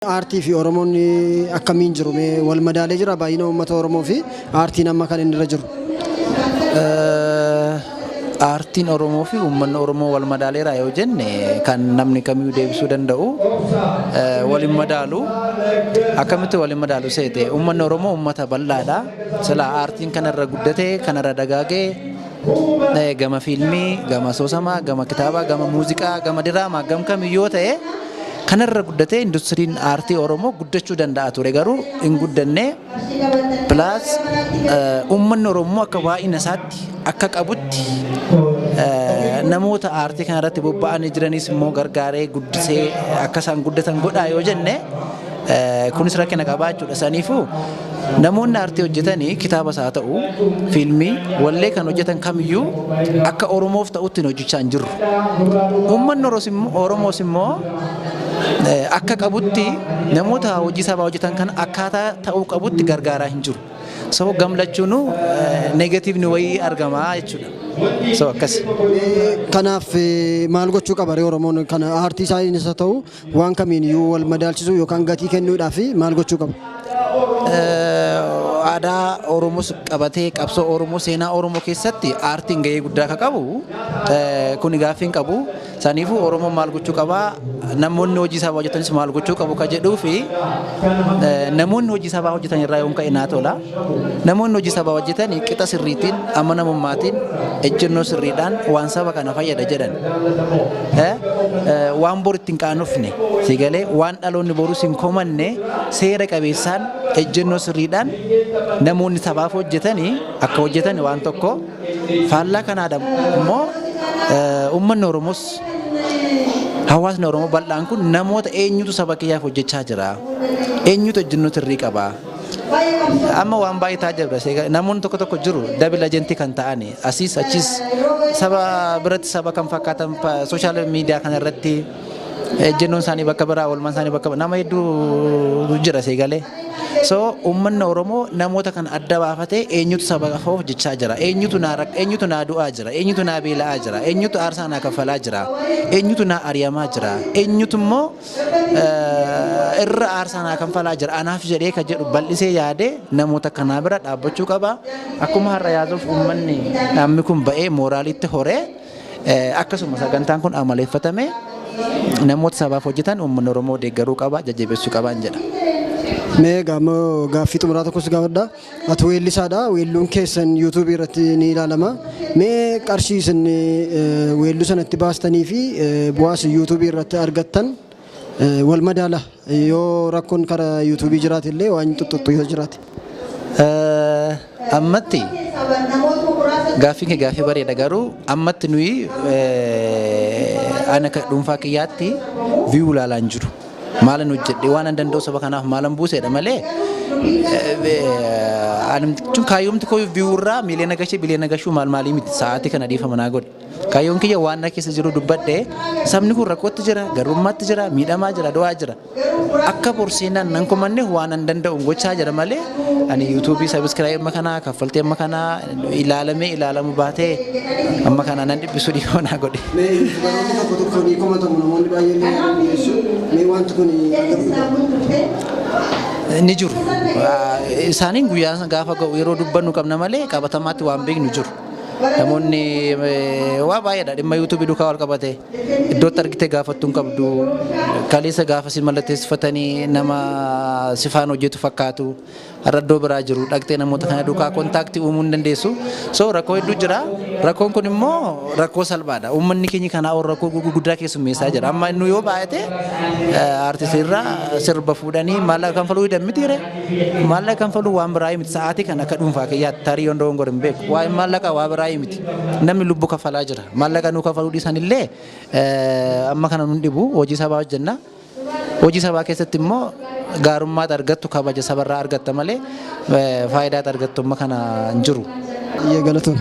Aartii fi Oromoon akkamiin jiru mee wal madaalee jira baay'ina uummata Oromoo fi aartiin amma kan inni irra jiru? Aartiin Oromoo fi uummanni Oromoo wal madaaleera yoo jenne kan namni kamiyyuu deebisuu danda'u wal hin madaalu. Akkamitti wal hin madaalu seete uummanni Oromoo uummata bal'aadha. Silaa aartiin kanarra guddatee kanarra dagaagee Eh, gama fiilmii gama soosamaa gama kitaabaa gama muuziqaa gama diraamaa gam kamiyyuu yoo ta'e kanarra guddatee industiriin aartii oromoo guddachuu danda'a ture garuu hin guddanne pilaas uummanni oromoo akka baay'ina isaatti akka qabutti eh, namoota aartii kanarratti bobba'anii jiranis immoo gargaaree guddisee akka isaan guddatan godhaa yoo jenne Kunis rakkina qabaa jechuudha. Saniifuu namoonni aartii hojjetan kitaabas haa ta'u fiilmii wallee kan hojjetan kamiyyuu akka Oromoof ta'utti hin hojjechaa hin jirru. Uummanni Oromoos immoo akka qabutti namoota hojii sabaa hojjetan kana akkaataa ta'uu qabutti gargaaraa hin jiru. So gamlachuunuu negatiivni wayii argama jechuudha. So akkasi. Kanaaf maal gochuu qaba Oromoon kana aartii isaa ta'u Waan kamiin iyyuu wal madaalchisuu yookaan gatii kennuudhaaf maal gochuu qabu? Aadaa Oromoos qabatee qabsoo Oromoo seenaa Oromoo keessatti aartiin gahee guddaa akka qabu kuni gaaffii hin qabu. Saniifuu Oromoon maal gochuu qaba? Namoonni hojii sabaa hojjetanis maal gochuu qabu? Kan jedhuu fi namoonni hojii sabaa hojjetan irraa yoon ka'e naa tola. Namoonni hojii sabaa hojjetan qixa sirriitiin, amanamummaatiin, ejjennoo sirriidhaan waan saba kana fayyada jedhan waan bor ittiin qaanofne sigalee waan dhaloonni borus hin komanne seera qabeessaan ejjennoo sirriidhaan namoonni sabaaf hojjetan akka hojjetan waan tokko faallaa kanaa immoo uummanni Oromoos hawaasni Oromoo bal'aan kun namoota eenyutu saba kiyyaaf hojjechaa jira eenyutu ejjennoo sirrii qaba Amma waan baay'ee taajabda seega namoonni tokko tokko jiru dabil ajentii kan ta'ani asiis achiis saba biratti saba kan fakkaatan sooshaal miidiyaa kana irratti ejjennoon isaanii bakka biraa oolmaan isaanii bakka nama hedduu jira seegalee. So uummanni Oromoo namoota kan adda baafatee eenyutu saba koo hojjechaa jira eenyutu naa rak- eenyutu naa du'aa jira eenyutu naa beela'aa jira eenyutu aarsaa naa kaffalaa jira eenyutu naa ari'amaa jira eenyutu immoo irra aarsaa naa kanfalaa jira anaaf jedhee kan jedhu bal'isee yaadee namoota kanaa bira dhaabbachuu qaba akkuma har'a yaaduuf uummanni dhaabni kun ba'ee mooraaliitti horee akkasuma sagantaan kun amaleeffatame namoota sabaaf hojjetan uummanni Oromoo deeggaruu qaba jajjabeessuu qaba jedha. Mee gaaffii xumuraa tokkos gaafadha. Ati weellisaadha. Weelluun keessan YouTube irratti ni ilaalama. Mee qarshii isin weelluu sana itti baastanii fi bu'aa isin YouTube irratti argattan wal madaala. Yoo rakkoon karaa YouTube jiraate illee waan xuxxuxxu yoo jiraate. Ammatti gaaffii kee gaaffii bareeda garuu ammatti nuyi ana dhuunfaa kiyyaatti viyuu ilaalaan jiru. Maalan hojjedhe waan an danda'u saba kanaaf maalan buuseedha malee anumtichuun kaayyoomti koo viiwurraa miiliyoona gashee biliyoona gashuu maal maalii miti sa'aatii kana dhiifama naa godhe. Kaayyoon kiyya waan na keessa jiru dubbadhe sabni kun rakkootti jira garummaatti jira miidhamaa jira du'aa jira. Akka borseenaan nan komanne waan an danda'u gochaa jira malee ani yuutuubii sabiskiraayii amma kanaa kaffaltii amma kanaa ilaalamee ilaalamu baatee amma kana nan dhiphisu dhiifama naa godhi. Baroonni tokko tokko ni komatamu namoonni baay'een ni yaadanii dhiyeessu. Mee wanti kun agarsiisa. ni jiru. Isaaniin guyyaa gaafa ga'u yeroo dubbannu qabna malee qabatamaatti waan beeknu jiru. Namoonni eh, waa baay'eedha dhimma yuutuubii duukaa wal qabate iddootti argite gaafattu hin qabdu kaleessa gaafa si mallatteessifatanii nama sifaan hojjetu fakkaatu. Har'a iddoo biraa jiru dhaqxee namoota kana duukaa kontaaktii uumuu hin dandeessu. So rakkoo hedduu jira. Rakkoon kun immoo rakkoo salphaadha. Uummanni keenya kanaa ol rakkoo gurguddaa keessummeessaa jira. Amma inni yoo baay'ate aartistii irraa sirba fuudhanii maallaqa kanfaluu hidhan mitiire. Maallaqa kanfaluu waan biraa miti. Sa'aatii kan akka dhuunfaa kiyyaatti tarii yoon dogoggore hin beeku. Waa'ee maallaqa waa biraa miti. Namni lubbuu kaffalaa jira. Maallaqa nuu kaffaluu dhiisan illee amma kana nun dhibu hojii sabaa hojjenna. Hojii sabaa keessatti immoo gaarummaat argattu kabaja sabarraa argatta malee faayidaat argattu amma kana hin jiru. Hayyee galatoomi.